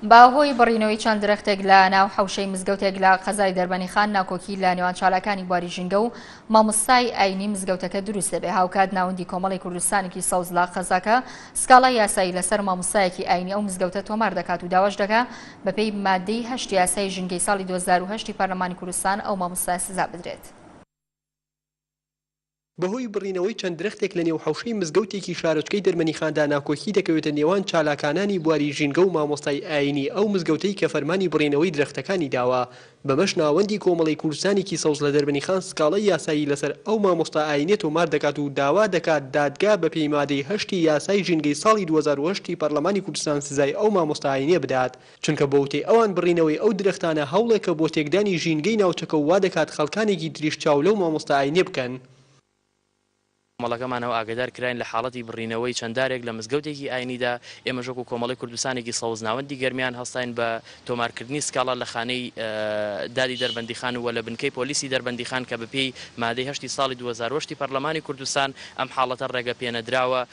بە هۆی بڕینەوەی چەند درەختێک لە ناو حەوشەی مزگەوتێک لە قەزای دەربەنیخان ناکۆکی لە نێوان چالاکانی بواری ژینگە و مامۆستای ئاینی مزگەوتەکە دروست دەبێ هاوکات ناوەندی کۆمەڵی کوردستانێکی سەوز لە قەزاکە سکاڵا یاسایی لەسەر مامۆستایەکی ئاینی ئەو مزگەوتە تۆمار دەکات و داواش دەکا بەپێی مادەی هەشت یاسای ژینگەی ساڵی 2010 پەرلەمانی کوردستان ئەو مامۆستای سزا بدرێت. بەهۆی بڕینەوەی چەند درەختێک لەنێو حەوشەی مزگەوتێکی شارۆچکەی دەرمەنیخاندا ناکۆکی دەکەوێتە نێوان چالاکانانی بواری ژینگە و مامۆستای ئایینی ئەو مزگەوتەی کە فەرمانی بڕینەوەی درەختەکانی داوە بەمەش ناوەندی کۆمەڵەی کوردستانێکی سەوز لە دەربەنیخان سکاڵای یاسایی لەسەر ئەو مامۆستا ئایینیە تۆمار دەکات و داوا دەکات دادگا بەپێی مادەی هەشتی یاسای ژینگەی ساڵی دوو هەزار و هەشت ی پەرلەمانی کوردستان سزای ئەو مامۆستا ئایینیە بدات چونکە بە وتەی ئەوان بڕینەوەی ئەو درەختانە هەوڵێکە بۆ تێکدانی ژینگەی ناوچەکە و وادەکات خەڵکانێکی تریش چاو لەو مامۆستا ئاینیە بکەن. کۆمەڵەکەمانەوە ئاگەدار کراین لە حاڵەتی بڕینەوەی چەند دارێک لە مزگەوتێکی ئاینیدا، ئێمەش وەکو کۆمەڵەی کوردستانێکی سەوز ناوەندی گەرمیان هەستاین بە تۆمارکردنی سکاڵا لە خانەی دادی دەربەندیخان و لە بنکەی پۆلیسی دەربەندیخان کە بەپێی مادەی هەشتی ساڵی دوو هەزار و هەشت ی پەرلەمانی کوردستان ئەم حاڵەتە ڕێگەپێنەدراوە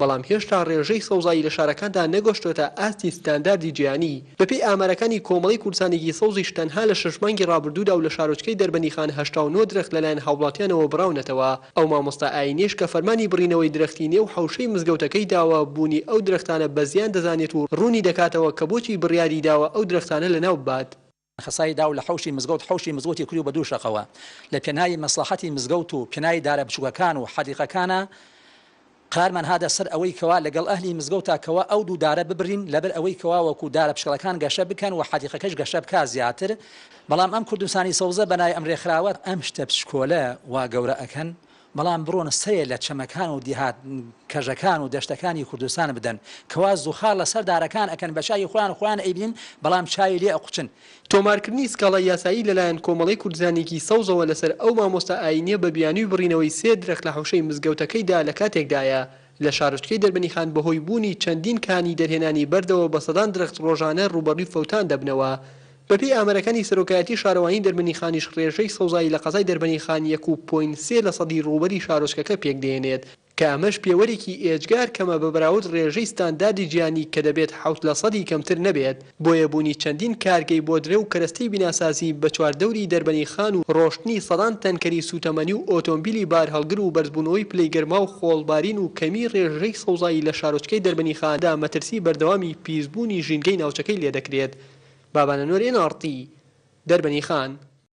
بەڵام هێشتا ڕێژەی سەوزایی لە شارەکاندا نەگۆشتۆتە ئاستی ستانداردی جیهانی، بەپێی ئامارەکانی کۆمەڵەی کوردستانێکی سەوزیش تەنها لە شەش مانگی ڕابردوودا و لە شارۆچکەی دەربەندیخان هەشتا و نۆ درەخت لەلایەن هاوڵاتیانەوە بڕاونەتەوە، ئەو مامۆستا ئاینیەش کە فەرمانی بڕینەوەی درەختی نێو حەوشەی مزگەوتەکەی داوە بوونی ئەو درەختانە بەزیان دەزانێت و ڕوونی دەکاتەوە کە بۆچی بڕیاری داوە ئەو درەختانە لەناو ببات. خسای داو لە حەوشی مزگەوت حەوشی مزگەوتی کری و بە دوو شەقەوە لە پێناوی مەسڵەحەتی مزگەوت و پێناوی دارە بچووکەکان و حەدیقەکانا قرارمان هاتە سەر ئەوەی کەوا لەگەڵ ئەهلی مزگەوتا کەوا ئەو دوو دارە ببرین لەبەر ئەوەی کەوا وەکوو دارە پشکەڵەکان گەشە بکەن و حەدیقەکەش گەشە بکا زیاتر بەڵام ئەم کوردستانی سەوزە بەناوی ئەم رێکخراوە ئەم شتە بچکۆلە وا گەورە ئەکەن بەڵام بڕۆن سەرێ لە چەمەکان و دیهات کەژەکان و دەشتەکانی کوردستان بدەن کەوا زوخاڕ لە سەر دارەکان ئەکەن بە چاوی خۆیان خۆیان ئەیبینن بەڵام چاوی لێ ئەقوچن. تۆمارکردنی سکاڵای یاسایی لەلایەن کۆمەڵەی کوردزانیی سەوزەوە لەسەر ئەو مامۆستا ئایینییە بە بیانووی بڕینەوەی سێ درەخت لە حەوشەی مزگەوتەکەیدا لە کاتێکدایە لە شارۆچکەی دەربەنیخان بەهۆی بوونی چەندین کانی دەرهێنانی بەردەوە بە سەدان درەخت ڕۆژانە ڕووبەڕووی فەوتان دەبنەوە بەپێی ئامارەکانی سەرۆکایەتی شارەوانی دەربەندیخانیش ڕێژەی سەوزایی لە قەزای دەربەندیخان یەک و پۆینت سێ لەسەدی ڕووبەری شارۆچکەکە پێکدێنێت کە ئەمەش پێوەرێکی ئێجگار کەمە بە بەراورد ڕێژەی ستانداردی جیهانی کە دەبێت حەوت لەسەدی کەمتر نەبێت بۆیە بوونی چەندین کارگەی بۆدرە و کەرەستەی بیناسازی بە چواردەوری دەربەندیخان و ڕۆشتنی سەدان تەنکەری سووتەمەنی و ئۆتۆمبیلی بارهەڵگر و بەرزبوونەوەی پلەی گەرما و خۆڵبارین و کەمی ڕێژەی سەوزایی لە شارۆچکەی دەربەندیخان دا مەترسی بەردەوامی پیسبوونی ژینگەی ناوچەکەی لێدەکرێت، بابانەنۆر ئێن ئاڕ تی، دەربەنی خان.